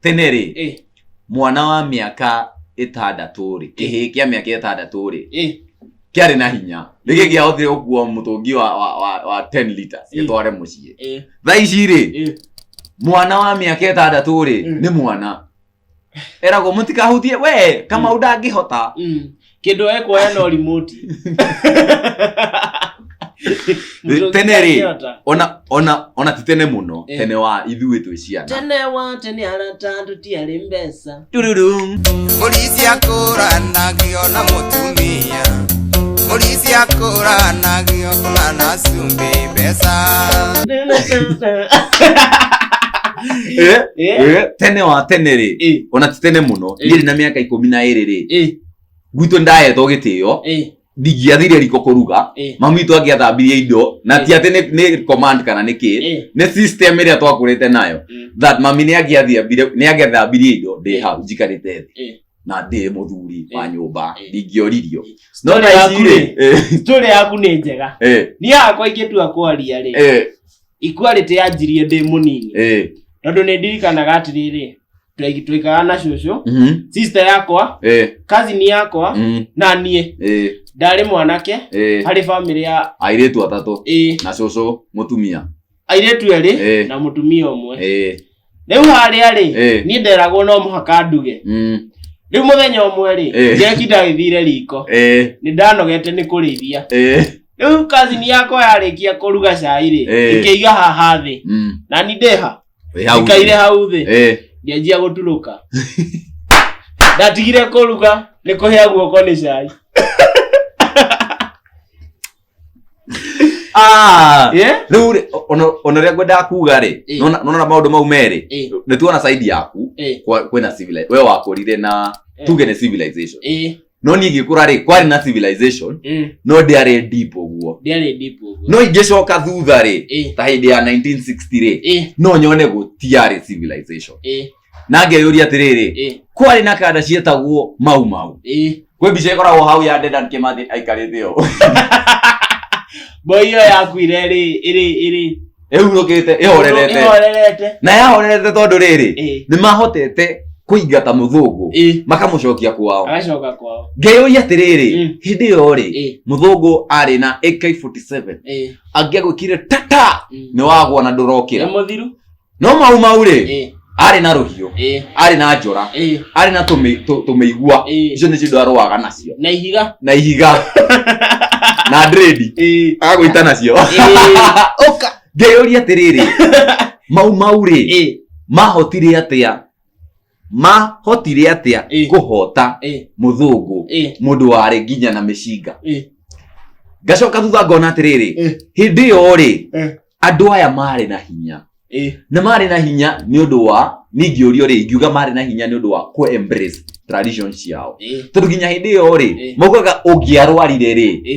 tene rĩ Eh, mwana wa mĩaka ĩtandatũ rĩ kĩhĩ kĩa mĩaka ĩtandatũ rĩ eh, kĩarĩ na hinya rĩgĩ gĩahotire gũkua mũtũngi wa, wa, wa, wa 10 liters Mm. gĩtware mũciĩ eh, thaa ici rĩ eh. mwana wa mĩaka ĩtandatũ rĩ Mm. nĩ mwana eragwo mũtikahutie we kamau ndangĩhota Mm. kĩndũ ekuoya no remote Mũndũ Tene rĩ, angĩhota. ona ona ona ti tene mũno Eh. tene wa ithuĩ twĩ ciana tene wa tene arata tũtiarĩ mbeca Tururum. Mũrĩithi akũranagio na mũtumia Mũrĩithi akũranagio kũna na cumbĩ mbeca Eh, Eh, eh, tene wa tene rĩ eh, ona ti tene mũno Eh. ndirĩ na mĩaka ikũmi na ĩrĩ rĩ eh. gwitũ ndahetwo gĩtĩo Eh, ndingĩathire riko kũruga eh, mamu witũ angĩathambirie indo na ti atĩ nĩ- nĩ command kana nĩ kĩ eh. nĩ system ĩrĩa twakũrĩte nayo Mm. that mami nĩ angĩathiambire nĩ angĩathambirie indo ndĩ hau njikarĩte thĩ Eh. na ndĩ mũthuri wa Eh. nyũmba Eh. ndingĩoririo no Story na yaku ici-rĩ, rĩ, eh, story yaku nĩ njega eh, niĩ hakwa ingĩtua kwaria rĩ eh, equality yanjirie ndĩ mũnini Eh. tondũ nĩ ndirikanaga atĩrĩrĩ twaigi- twaikaraga na cũcũ Mhm. sister yakwa Eh. kazini yakwa Mm. na niĩ Eh. ndarĩ mwanake Eh. harĩ bamĩrĩ ya Airĩtu atatũ ĩ na cũcũ mũtumia. airĩtu erĩ Eh. na mũtumia ũmwe Eh. rĩu harĩa rĩ Eh. niĩ nderagwo no mũhaka nduge Mm. rĩu mũthenya ũmwe rĩ Eh. njeki ndagĩthire riko Eh. nĩ ndanogete nĩ kũrĩithia Eh. rĩu kazini yakwa yarĩkia kũruga cai rĩ Eh. ĩkĩiga haha thĩ Mm. na ni ndĩha Wĩ hau. ĩkaire hau thĩ Eh. ngĩanjia gũturũka ndatigire kũruga nĩ kũhĩa guoko nĩ cai Ah, Eh? rĩu rĩ, ona- ona rĩa ngwendaga kuga rĩ Eh. nona nona maũndũ mau merĩ Eh, nĩ tuona saidi yaku eh, kwa- kwĩna civili- we wakũrire na Eh. tuge nĩ civilization eh, no niĩ ngĩkũra rĩ kwarĩ na civilization mm, no ndĩarĩ deep ũguo ndiarĩ deep ũguo. no ingĩcoka thutha rĩ Eh, ta hĩndĩ ya 1960 rĩ eh, no nyone gũtiarĩ civilization eh. na ngeyũria atĩrĩrĩ Eh, kwarĩ na kanda cietagwo mau mau eh. kwĩ mbica ĩkoragwo hau ya dedan kĩmathi aikarĩte ũũ Boy ĩyo yakuire ĩrĩ ĩrĩ ĩrĩ ĩhurũkĩte ĩhorerete ĩhorerete. na yahorerete tondũ rĩrĩ Eh, nĩ mahotete kũingata mũthũngũ eh. makamũcokia kwao Agacoka kwao. ngeyũria atĩrĩrĩ Mm. hĩndĩ ĩyo rĩ Eh, mũthũngũ arĩ na ak47 eh. angĩagwĩkire tata Mm. nĩ wagwa na Nĩ ndũrokĩra mũthiru. no mau mau rĩ ĩ arĩ na rũhiũ ĩ arĩ na njora ĩ arĩ na tũmĩ- tũ- tũmĩigua ĩ icio nĩcio andũ arũaga nacio na ihiga na ihiga na ndredi ĩ agwĩta nacio ĩ ũka ngeyũria atĩrĩrĩ mau mau rĩ ĩ mahotire atĩa mahotire atia Ĩ. kũhota Ĩ, mũthũngũ ĩ, mũndũ warĩ nginya na mĩcinga ĩ, ngacoka thutha ngona atĩrĩrĩ ĩ, hĩndĩ ĩyo rĩ ĩ, andũ aya marĩ na hinya ĩ, na marĩ na hinya nĩ ũndũ wa ningĩũrio rĩ ingiuga marĩ na hinya nĩ ũndũ wa kũ embrace tradition ciao ĩ, tondũ nginya hĩndĩ ĩyo rĩ Ĩ. maugaga ũngĩarwarire rĩ ĩ,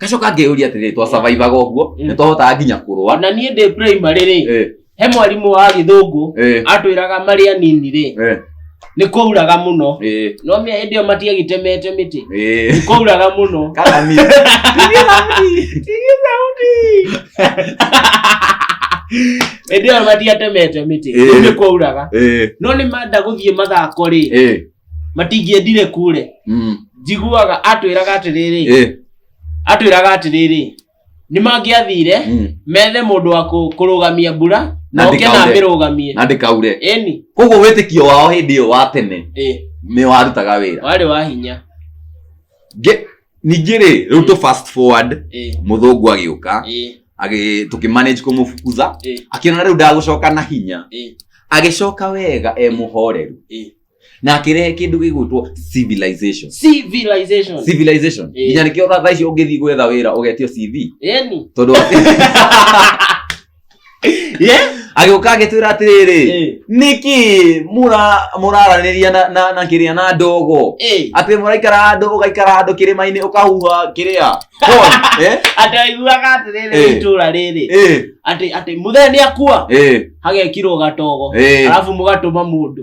gacoka ngĩyũria atĩrĩrĩ twasurvivaga ũguo Mm. nĩ twahotaga nginya kũrũa na niĩ ndĩ primary rĩ Eh, he mwarimũ wa gĩthũngũ eh, atwĩraga marĩ anini rĩ eh, nĩ kwauraga mũno eh, no mĩa hĩndĩ ĩyo matiagĩtemete mĩtĩ eh. nĩ kwauraga mũno Kana mimi. hĩndĩ ĩyo matiatemete mĩtĩ Eh. nĩ kwauraga Eh, no nĩ manda gũthiĩ mathako rĩ eh. matingĩendire kure Mm. njiguaga atwĩraga atĩrĩrĩ Eh. atwĩraga atĩrĩrĩ nĩ mangĩathire Mm. methe mũndũ wa kũ- kũrũgamia mbura Na na oke na ndĩkaure. amĩrũgamie na ndĩkaure ĩni koguo wĩtĩkio wao hĩndĩ ĩyo wa tene ĩ nĩ warutaga wĩra warĩ wa hinya Nge- ningĩ rĩ rĩu tũ fast forward ĩ mũthũngũ agĩũka ĩ agĩ- tũkĩmanage kũmũbukuza ĩ akĩona rĩu ndagũcoka na hinya ĩ agĩcoka wega e mũhoreru ĩ na akirehe kindu gigwitwo civilization civilization civilization Eh. nginya nikio thaa icio ungithi gwetha wira ugetio cv yani tondu yeah agiuka agitwira atiriri eh niki mura muraraniria na na, na kiria na ndogo eh atä må raikara handå å gaikara handå kä rä mainä å kahuha kä rä a ataiguaga atiriri Eh. itũra rĩrĩ atä atä mũthee nĩ akua hagekirwo gatogo Eh. arabu mũgatũma mũndũ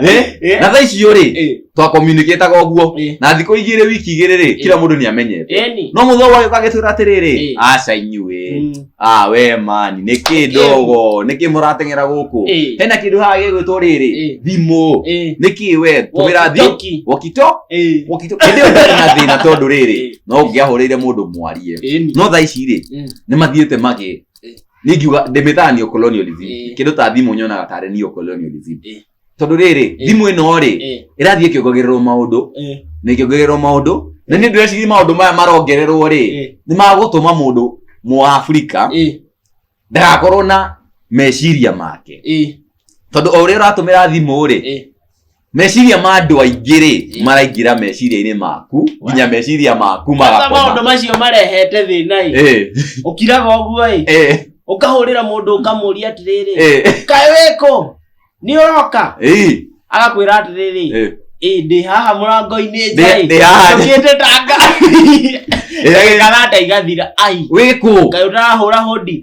Eh? Eh. na thaa icio rĩ Eh, twakomunikĩtaga ũguo eh, na thikũ igĩrĩ wiki igĩrĩ rĩ kila mũndũ nĩ amenyete eni. no mũthũa wagĩũka agĩtwĩra atĩrĩrĩ Eh. aca inyuĩ Mm, ah we mani nĩ kĩ Eh. ndogo nĩ kĩ mũrateng'era gũkũ eh, hena kĩndũ haha gĩgwĩtwo rĩrĩ Eh. thimũ eh, nĩ kĩ we tũmĩra thimũ walkie-talkie. wokito Eh, wokito hĩndĩ ĩyo ndarĩ na thĩna tondũ rĩrĩ Eh. no ngĩahũrĩire mũndũ mwarie eni. no thaa ici rĩ Mm. nĩ mathiĩte magĩ ningiuga ndimitaga neo colonialism Eh. kindu ta thimu nyonaga tare neo colonialism Eh. tondu riri Eh. thimu ino ri Eh, irathie kiongogererwo maundu eh, na ikiongererwo maundu na ni ndweciri maundu maya marongererwo ri eh, ni magutuma mundu mu Afrika eh, ndagakorwo na meciria make eh, tondu o uria uratumira thimu ri eh, meciria ma andå aingä rä maraingä meciria-inä maku nginya meciria maku Sasa maũndũ magakoma macio marehete thĩna ĩ Ĩ, ũkiraga ũguo ĩ ĩ, ũkahũrĩra mũndũ ũkamũria atĩrĩrĩ ĩ, kaĩ wĩkũ nĩ ũroka ĩ, agakwĩra atĩrĩrĩ ĩ. ĩ ndĩ haha mũrango-inĩ Ndĩ- ndĩ haha. njũkĩte tanga Ĩ, ĩgakana ata igathira ai wĩkũ kaĩ ũtarahũra hũndi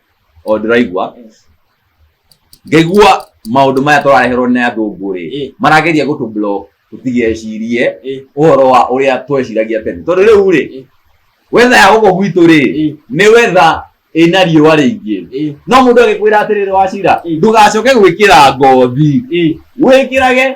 o ndĩraigua Yes. ngaigua maũndũ maya tũrareherwo nĩ athũngũ rĩ Eh. marageria gũtũ block tũtigecirie Eh. ũhoro wa ũrĩa tweciragia tene tondũ rĩu Eh. rĩ wetha ya gũkũ gwitũ rĩ Eh. nĩ wetha ĩna riũa rĩingĩ Eh. no mũndũ agĩkwĩra atĩrĩrĩ wacira Eh. ndũgacoke gwĩkĩra ngothi Eh. wĩkĩrage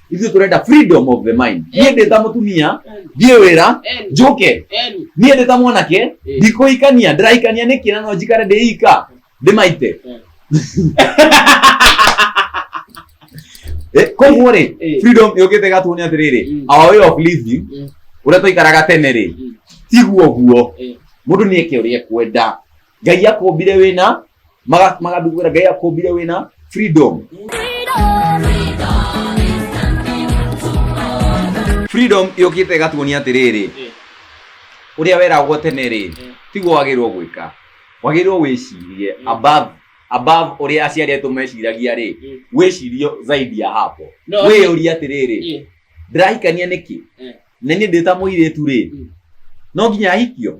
ithuĩ tũrenda freedom of the mind niĩ ndĩ ta mũtumia thiĩ wĩra Eni, njũke eni. niĩ ndĩ ta mwanake Eh. ndikũikania ndĩraikania nĩkĩ na no njikare ndĩika ndĩmaite Eh, koguo rĩ Eh. freedom yũkĩte gatũnĩ atĩrĩrĩ Mm. our way of living Mm. ũrĩa twaikaraga tene rĩ Mm. tiguo guo Eh. mũndũ nĩeke ũrĩa ekwenda ngai akombire wĩna maga- magathugura ngai akombire wĩna freedom freedom yũkĩte ĩgatuonia atĩrĩrĩ ũrĩa weragwo tene rĩ tiguo wagĩrĩirwo gwĩka wagĩrĩirwo wĩcirie above above ũrĩa aciari aitũ meciragia rĩ wĩcirie zaidi ya hapo No, wĩyũrie atĩrĩrĩ Eh, ndĩrahikania nĩkĩ Eh. na niĩ ndĩta mũirĩtu rĩ Mm. no nginya ahikio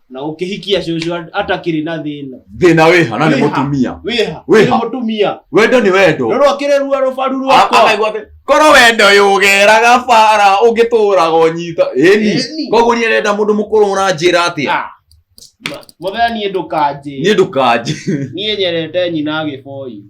na ũkĩhikia cũcũ at- atakĩrĩ na thĩna thĩna wĩha na nĩ Wĩha. mũtumia wĩha Wĩha. nĩ mũtumia wendo nĩ wendo rũrũ akĩrĩ ruo rũbaru rwakwa akaigua atĩ korwo wendo yũgeraga bara ũngĩtũraga ũnyita ĩni Ĩni. koguo niĩ nenda mũndũ mũkũrũ mũranjĩra atĩa Ah. Ma- mũthee niĩ ndũkanjĩ niĩ ndũkanjĩ niĩ nyerete nyina gĩboi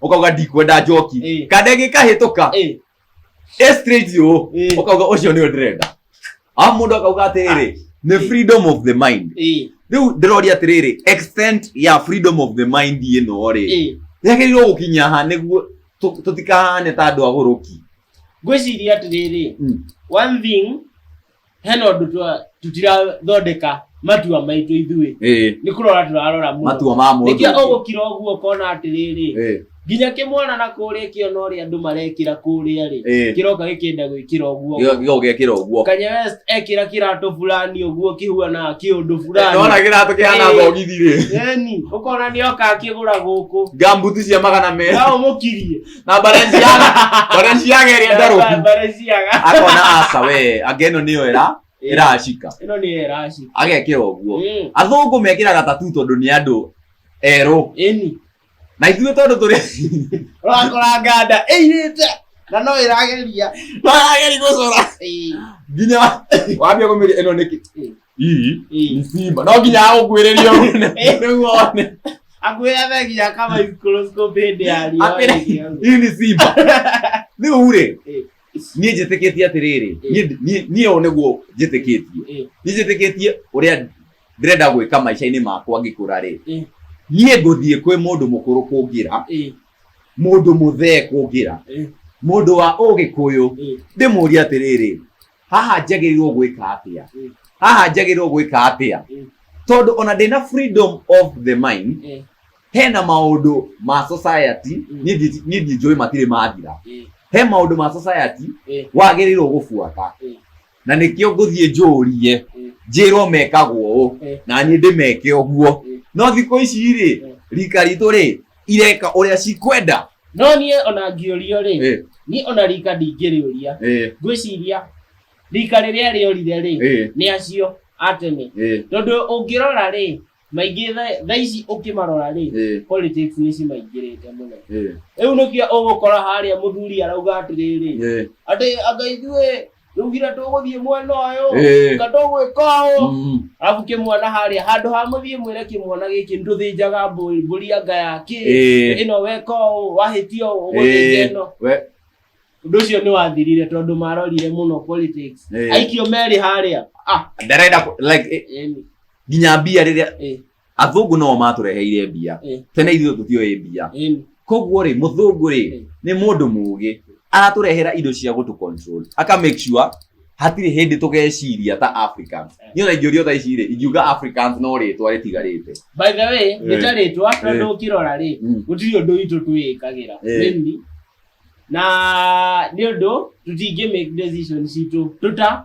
ukauga ndikwenda njoki Eh. kandege kahĩtũka Eh, ĩ straight ũũ eh, ukauga ũcio nĩyo ndĩrenda a mũndũ akauga atĩrĩrĩ nĩ Eh. freedom of the mind eh, rĩu ndĩroria atĩrĩrĩ extent ya freedom of the mind ĩno rĩ eh. yagĩrĩirwo gũkinya ha nĩguo tũ- tũtikahane ta andũ agũrũki ngwĩciria atĩrĩrĩ Mm. one thing hena ũndũ twa- tutirathondeka matua maitũ ithuĩ Eh, nĩ kũrora tũrarora mũndũ matua ma mũndũ nĩkĩo ũgũkira ũguo ũkona atĩrĩrĩ Eh, nginya kĩmwana na kũrĩa kĩona ũrĩa andũ marekĩra kũrĩa rĩ eh, kĩroka gĩkĩenda gwĩkĩra ũguo gĩgo- gĩgo gekĩra ũguo kanya west ekĩra kĩratũ fulani ũguo kĩhuanaga kĩũndũ nona fulani kĩratũ kĩhana Eh. thogithi rĩ yani ũkona nĩ oka akĩgũra gũkũ gambuti cia magana merĩ no ũmũkirie na barenziaga barenziaga ĩrĩa ndarũku Bareziaga. akona aca we anga ĩno nĩyo ĩra ĩracika Ĩno nĩ eraci. agekĩra ũguo Mm. athũngũ mekĩraga tatu tondũ nĩ andũ erũ Ĩni. na ithuĩ tondũ tũrĩ Ũrakora nganda ĩirĩte. Na no ĩrageria. twarageri gũcora Ĩĩ. nginya wambia kũmĩria ĩno nĩkĩ Ĩĩ. Hii Ii. ni Simba. No nginya agũkuĩrĩria ũrune. Rĩu one. Akwĩra thegia kama microscope hĩndĩ ya riũa Akwĩra- ĩgĩthũka. Hii ni Simba. Rĩu rĩ, Ĩ. niĩ njĩtĩkĩtie atĩrĩrĩ, Ĩ. niĩ- niĩ- niĩ ũũ nĩguo njĩtĩkĩtie. Ĩ. Niĩ njĩtĩkĩtie ũrĩa ndĩrenda gwĩka maica-inĩ makwa ngĩkũra rĩ. Ĩ. Niĩ ngũthiĩ kwĩ mũndũ mũkũrũ kũngĩra, Ĩ. mũndũ mũthee kũngĩra, Ĩ. mũndũ wa ũgĩkũyũ, Ĩ. ndĩmũrie atĩrĩrĩ, haha njagĩrĩirwo gwĩka atĩa Mm. haha njagĩrĩirwo gwĩka atĩa Mm. tondũ ona ndĩna freedom of the mind Eh, hena maũndũ ma society Mm. niĩ ndi- niĩ ndinjũĩ matirĩ mathira eh, he maũndũ ma society eh, wagĩrĩirwo gũbuata Mm. na nĩkĩo ngũthiĩ njũrie Mm. njĩrwo mekagwo ũũ Mm. na niĩ ndĩmeke ũguo Mm. no thikũ ici rĩ Mm. rika ritũ rĩ ireka ũrĩa cikwenda no niĩ ona ngĩũrio rĩ Eh, niĩ ona rika ndingĩrĩũria eh, ngwĩciria rika rĩrĩa rĩorire rĩ eh, nĩ acio a tene eh, tondũ ũngĩrora rĩ maingĩ tha- thaa ici ũkĩmarora rĩ eh, politics nĩ cimaingĩrĩte mũno eh, rĩu nĩkĩo ũgũkora harĩa mũthuri arauga atĩrĩrĩ eh. atĩ anga ithuĩ ndugire tũgũthiĩ mwena ũyũ Eh. nga tũgwĩka ũũ Mm. arabu kĩmwana harĩa handũ ha mũthiĩ mwĩre kĩmwana gĩkĩ ndũthĩnjaga mbũri mbũri ya nga yakĩ Eh. ĩno weka ũũ wahĩtia ũũ ũgũthĩnja Eh. ĩno We. ũndũ ũcio nĩ wathirire tondũ marorire mũno politics Eh. aikio merĩ harĩa ah Ndarenda ku- like eh, yani, nginya mbia rĩrĩa eh, athũngũ noo matũreheire mbia Eh. tene ithuĩ tũtioĩ mbia Ĩni. koguo rĩ mũthũngũ rĩ Eh. nĩ mũndũ mũũgĩ aratũrehera indo cia gũtũ control aka make sure hatirĩ hĩndĩ tũgeciria ta africans niĩ ona ingĩũrio tha ici rĩ ingiuga africans no rĩtwa rĩtigarĩte by the way Eh. nĩtarĩtwa Eh. tondũ ũkĩrora rĩ Mm. gũtirĩ ũndũ witũ twĩĩkagĩra Eh. Mimi. na nĩ ũndũ tũtingĩ make decision citũ tũta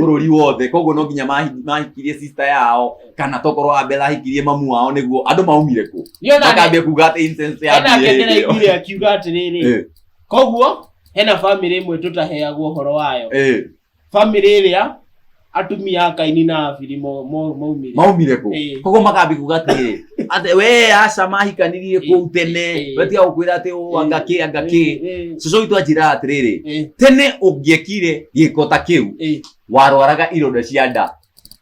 bũrũri wothe koguo no nginya mahi- mahikirie sister yao kana tokorwo abela ahikirie mamu wao nĩguo andũ maumire kũ Niona nĩ- makambia kuga atĩ incense ya hena mbia ngengere ĩyo. ĩkire akiuga atĩrĩrĩ Eh, koguo hena bamĩrĩ ĩmwe tũtaheagwo ũhoro wayo eh, bamĩrĩ ĩrĩa atumia akaini na abiri mo- mo- maumire maumire kũ Eh. koguo makambia kuga atĩrĩrĩ Ate we aca mahikanirie kũu tene Eh. wetiga gũkwĩra atĩ ũũ anga kĩ anga kĩ Eh, cũcũ witũ anjĩra atĩrĩrĩ eh, tene ũngĩekire gĩko ta kĩu eh, warwaraga ironda cia nda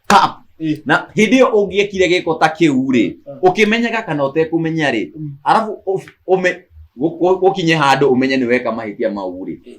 Pap! eh. na hĩndĩ ĩyo ũngĩekire gĩko ta kĩu rĩ ũkĩmenyaga kana ũtekũmenya rĩ Mm. arabu ũ- ũme- gũ- gũ- gũkinye handũ ũmenye nĩ weka mahĩtia mau rĩ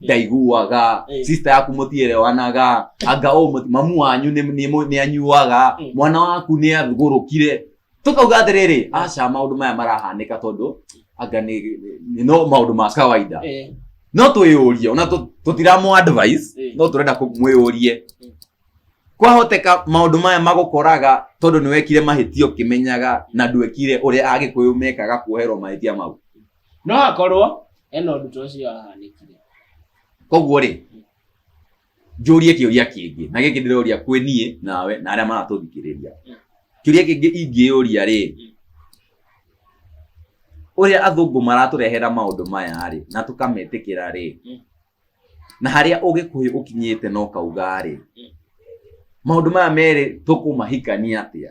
ndaiguaga Eh. sister yaku mũtiĩrewanaga anga ũũ mũti- mamu wanyu nĩ- nĩ mũ- nĩ anyuaga Mm. mwana waku nĩ athugũrũkire tũkauga atĩrĩrĩ aca maũndũ maya marahanĩka tondũ anga nĩ nĩ- no maũndũ ma kawaida Eh, no twĩyũrie ona tũ- tũtiramũ advice Mm. no tũrenda kũ- mwĩyũrie Mm. kwahoteka maũndũ maya magũkoraga tondũ nĩwekire mahĩtia ũkĩmenyaga na ndwekire ũrĩa agĩkũyũ mekaga kuoherwo mahĩtia mau no hakorwo ena ũndũ ta ũcio wahanĩkire koguo rĩ njũrie kĩũria kĩngĩ na gĩkĩ ndĩroria kwĩ niĩ nawe na arĩa maratũthikĩrĩria kĩũria kĩngĩ ingĩyũria rĩ ũrĩa athũngũ maratũrehera maũndũ maya rĩ na tũkametĩkĩra rĩ Mm. na harĩa ũgĩkũyũ ũkinyĩte na ũkauga rĩ maũndũ maya merĩ tũkũmahikania atĩa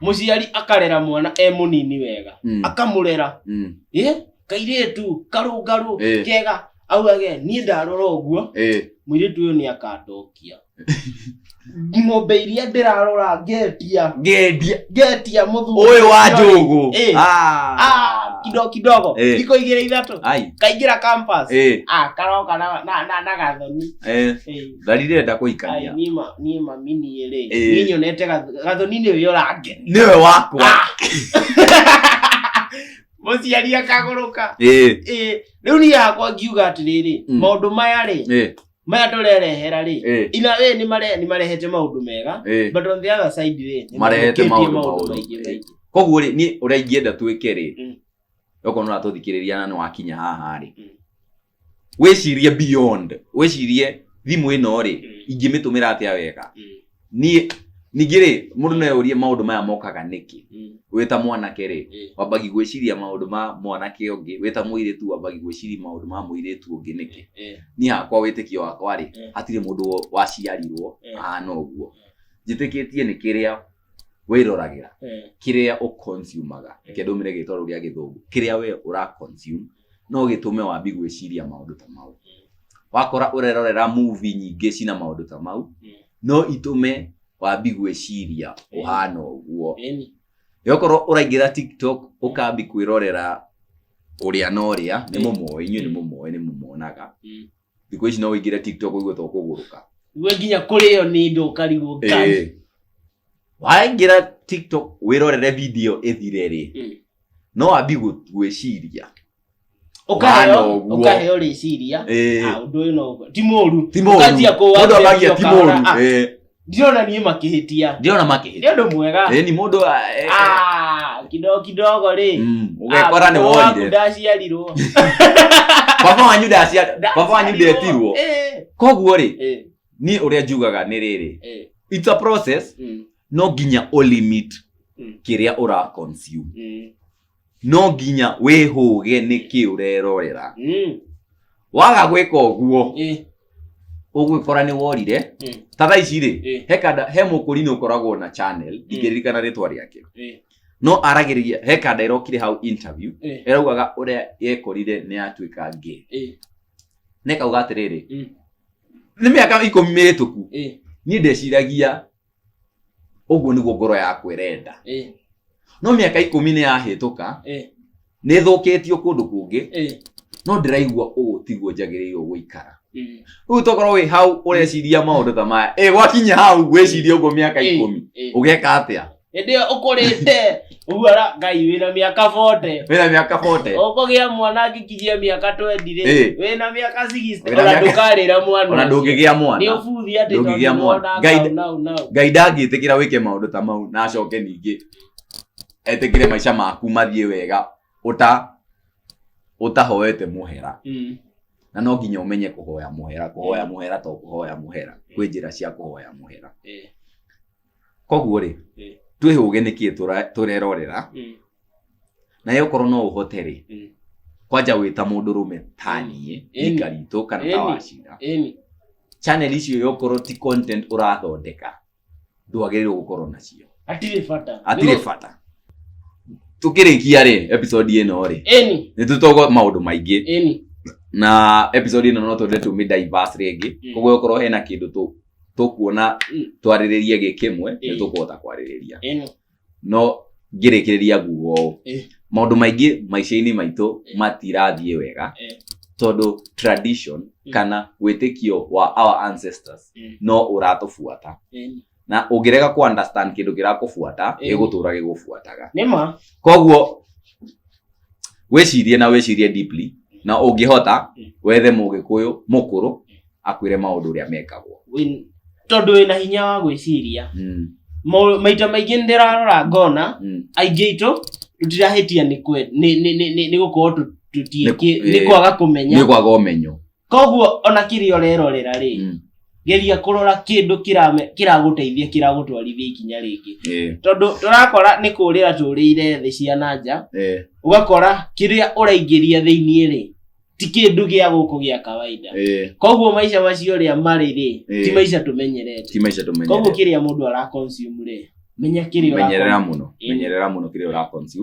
mũciari akarera mwana e mũnini wega Mm. akamũrera Mm. ĩ kairĩtu karũngarũ Eh. kega augage niĩ ndarora ũguo Eh. mũirĩtu ũyũ nĩ akandokia ng'ombe iria ndĩrarora ngetia Ngendia. ngetia mũthuri Ũyũ wa ũcio rĩ. njũgũ. Eh. Ah. Ah, kidogo kidogo Eh. thikũ igĩrĩ ithatũ Ai. kaingĩra campus Eh. ah karoka na na na- na gathoni Eh. Eh. thari renda Ai, kũhikania niĩ ma- niĩ mami niĩ rĩ Ĩĩ. niĩ nyonete gath- gathoni-inĩ ũyũ ũrangeni nĩwe wakwa mũciari akagũrũka Ĩĩ, Ĩĩ, rĩu niĩ hakwa ngiuga atĩrĩrĩ Mm. maũndũ maya rĩ ĩĩ, maya ndũrerehera rĩ ĩĩ, ina wee nĩ mare- nĩ marehete maũndũ mega ĩĩ. but on the other side rĩ nĩ Marehete mathũkĩtie maũndũ maũndũ maũru. maingĩ maingĩ koguo rĩ niĩ ũrĩa ingĩenda twĩke rĩ Mm. okorwo nũratũthikĩrĩria na nĩwakinya haha rĩ Mm. wĩcirie beyond wĩcirie thimũ ĩno rĩ Mm. ingĩmĩtũmĩra atĩa wega Mm. niĩ ningĩ rĩ mũndũ no eyũrie maũndũ maya mokaga nĩkĩ Mm. wĩ ta mwanake rĩ Eh. wambagi gwĩciria maũndũ ma mwanake ũngĩ wĩ ta mũirĩtu wambagi gwĩciria maũndũ ma mũirĩtu ũngĩ nĩkĩ Eh. niĩ hakwa wĩtĩkio wakwa rĩ Eh. hatirĩ mũndũ wo- waciarirwo Eh. ahana ũguo njĩtĩkĩtie nĩ kĩrĩa wĩroragĩra Eh. kĩrĩa ũconsumaga Eh. reke ndũmĩre gĩtoro gĩa gĩthũngũ kĩrĩa we ũraconsume no gĩtũme wambi gwĩciria maũndũ ta mau wakora ũrerorera movie nyingĩ cina maũndũ ta mau Mm. no itũme wambi gwĩciria ũhana ũguo Ĩni. yokorwo ũraingĩra tiktok ũkambi kwĩrorera ũrĩa na ũrĩa nĩ Mm. mũmoĩ inyuĩ nĩ mũmoĩ nĩ mũmonaga Mm. thikå ici no wä ingä re tiktok å igue to kå gå rå ka we nginya kũrĩo nĩ ndo ũkarigwo ngai waingä ra tiktok wä rorere video ä thire rä Mm. no ambi gwä ciria Ũkaheo- Wana ũguo. ũkaheo rĩciria Eh. Ah, ũndũ ũyũ no ti mũru ti må Ũkanjia kũwa mũndũ amagia video ti må kahora, ah, ru ndirona niĩ makĩhĩtia ndirona nĩ makĩhĩtia ũndũ mwega ĩĩ ni mũndũ a- e- e- Ah, kidogo kidogo rĩ Mm, Ah, ũgekora nĩ baba waku worire ndaciarirwo baba wanyu ndacia baba wanyu ndetirwo Eh, koguo rĩ eh, niĩ ũrĩa njugaga nĩ rĩrĩ eh, it's a process mm, no nginya ũlimit mm, kĩrĩa ũra consume mm, no nginya wĩhũge nĩkĩ ũrerorera Mm. waga gwĩka ũguo Eh. ũgwĩkora nĩ worire Mm. ta thaa ici rĩ Eh. he kanda he mũkũri nĩ ũkoragwo na channel ingĩririkana rĩtwa rĩake Eh. no aragĩrĩria he kanda ĩrokire hau interview Eh. ĩraugaga ũrĩa yekorire nĩ yatuĩka ngĩ Eh. nekauga atĩrĩrĩ Mm. nĩ mĩaka ikũmi mĩhĩtũku Eh. niĩ ndeciragia ũguo nĩguo ngoro yakwa ĩrenda ĩ no mĩaka ikũmi nĩ yahĩtũka ĩ nĩ thũkĩtio kũndũ kũngĩ ĩ no ndĩraigua ũũ tiguo njagĩrĩirwo gũikara ĩ rĩu tokorwo wĩ hau ũreciria maũndũ ta maya ĩ gwakinya hau wĩcirie ũguo mĩaka ikũmi ũgeka atĩa hĩndĩ ĩyo ũkũrĩte Ũguo ara ngai wĩna mĩaka 40. wĩna mĩaka 40 Ũkũgĩa mwana angĩkinyia mĩaka 20 rĩ, Eh. wĩna mĩaka 60 Wĩna ona mĩaka- ndũkarĩra mwana. ona ũcio. ndũngĩgĩa Nĩ mwana ũbuthi atĩ ndũngĩgĩa tondũ mwana. mwana Ngai- nau nau. ngai ndangĩtĩkĩra wĩke maũndũ ta mau na acoke ningĩ etĩkĩre maica maku mathiĩ wega ũta ũtahoete mũhera Mm. na no nginya ũmenye kũhoya mũhera kũhoya mũhera to kũhoya mũhera kwĩ njĩra cia kũhoya mũhera Eh. koguo rĩ Mm. twĩhũge nĩkĩ tũra- tũrerorera Mm. naye okorwo no ũhote rĩ Mm. kwanja wĩ ta mũndũ rũme ta niĩ Ĩni. ika ritũ kana ta Ĩni. wacira Ĩni. channel icio yokorwo ti content ũrathondeka ndwagĩrĩirwo gũkorwo nacio Hatirĩ bata. hatirĩ bata tũkĩrĩkia rĩ episode ĩno rĩ Ĩni. nĩ tũtogo maũndũ maingĩ Ĩni. na episode ĩno no twende tũmĩ diverse rĩngĩ Mm. koguo okorwo hena kĩndũ tũ tũkuona twarĩrĩrie gĩ kĩmwe nĩ tũkũhota kwarĩrĩria no ngĩrĩkĩrĩria nguga ũũ maũndũ maingĩ maica-inĩ maitũ matirathiĩ wega tondũ tradition kana wĩtĩkio wa our ancestors no ũratũbuata na ũngĩrega kũ understand kĩndũ kĩrakũbuata gĩgũtũra gĩgũbuataga koguo wĩcirie na wĩcirie deeply na ũngĩhota wethe mũgĩkũyũ mũkũrũ akwĩre maũndũ ũrĩa mekagwo Wĩ- tondũ wĩna hinya wa gwĩciria Mm, Mau- maita maingĩ nĩ ndĩrarora ngona mm. aingĩ itũ tũtirahĩtia nĩ kwe- nĩ- nĩ- nĩ- nĩ- nĩ gũkorwo tũ- tũtiĩkĩ- Nĩ- nĩ kwaga nĩ kũmenya kwaga ũmenyo koguo ona kĩrĩa ũrerorera rĩ Mm. geria kũrora kĩndũ kĩrame- kĩragũteithia kĩragũtwarithia ikinya rĩngĩ Eh, tondũ tũrakora nĩ kũrĩra tũrĩire thĩ cia na nja eh, ũgakora kĩrĩa ũraingĩria thĩinĩ rĩ ti kĩndũ gĩa gũkũ gĩa kawaida eh, koguo maica macio rĩa marĩ rĩ Eh. ti maica tũmenyerete ti maica koguo tũmenyerera kĩrĩa mũndũ ara consume rĩ menya kĩrĩa menyerera ũra- mũno Ĩĩ. menyerera mũno kĩrĩa ũra consume